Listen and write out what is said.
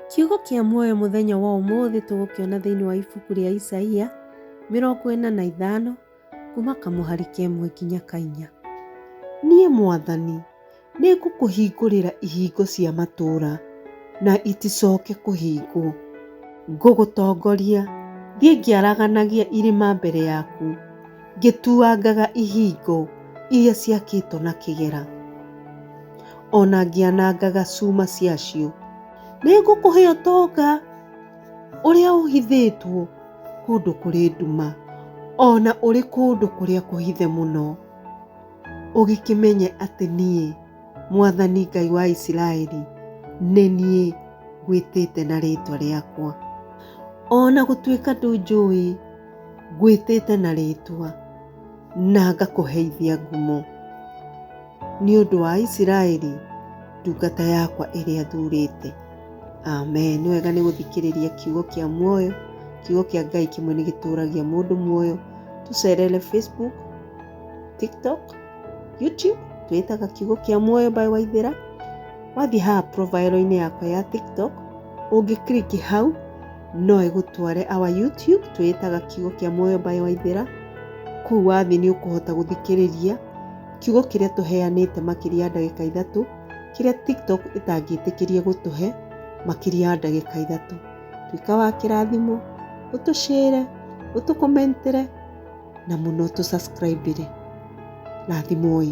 Kiugo kĩa muoyo mũthenya wa ũmũthĩ tũgũkĩona thĩinĩ wa ibuku rĩa Isaia mĩrongo ĩna na ithano kuma kamũhari kemwe nginya kainya. Niĩ mwathani nĩ ngũkũhingũrĩra ihingo cia matũũra na iticoke kũhingwo. Ngũgũtongoria thiĩ ngĩaraganagia irĩma mbere yaku. Ngĩtuangaga ihingo iria ciakĩtwo na kĩgera, o na ngĩanangaga cuma ciacio. Nĩ ngũkũhe ũtonga ũrĩa ũhithĩtwo kũndũ kũrĩ nduma, o na ũrĩ kũndũ kũrĩa kũhithe mũno, ũgĩkĩmenye atĩ niĩ, mwathani Ngai wa Isiraeli, nĩ niĩ ngwĩtĩte na rĩĩtwa rĩakwa, o na gũtuĩka ndũnjũĩ. Ngwĩtĩte na rĩĩtwa, na ngakũheithia ngumo, nĩ ũndũ wa Isiraeli ndungata yakwa ĩrĩa thuurĩte. Amen. Nĩ wega nĩ gũthikĩrĩria kiugo kĩa muoyo. Kiugo kĩa Ngai kĩmwe nĩ gĩtũũragia mũndũ muoyo. Tũcerere Facebook, TikTok, YouTube, twĩtaga kiugo kĩa muoyo by Waithĩra. Wathiĩ haha profile-inĩ yakwa ya TikTok, ũngĩ click hau, no ĩgũtware our YouTube twĩĩtaga kiugo kĩa muoyo by Waithera. Kũu wathiĩ nĩ ũkũhota gũthikĩrĩria kiugo kĩrĩa tũheanĩte makĩria ya ndagĩka ithatũ kĩrĩa TikTok ĩtangĩtĩkĩria gũtũhe makĩria ya ndagĩka ithatũ. Tuĩka wa kĩrathimo, ũtũshare, ũtũkomentere na mũno ũtũ subscribe ĩre. Rathimoi.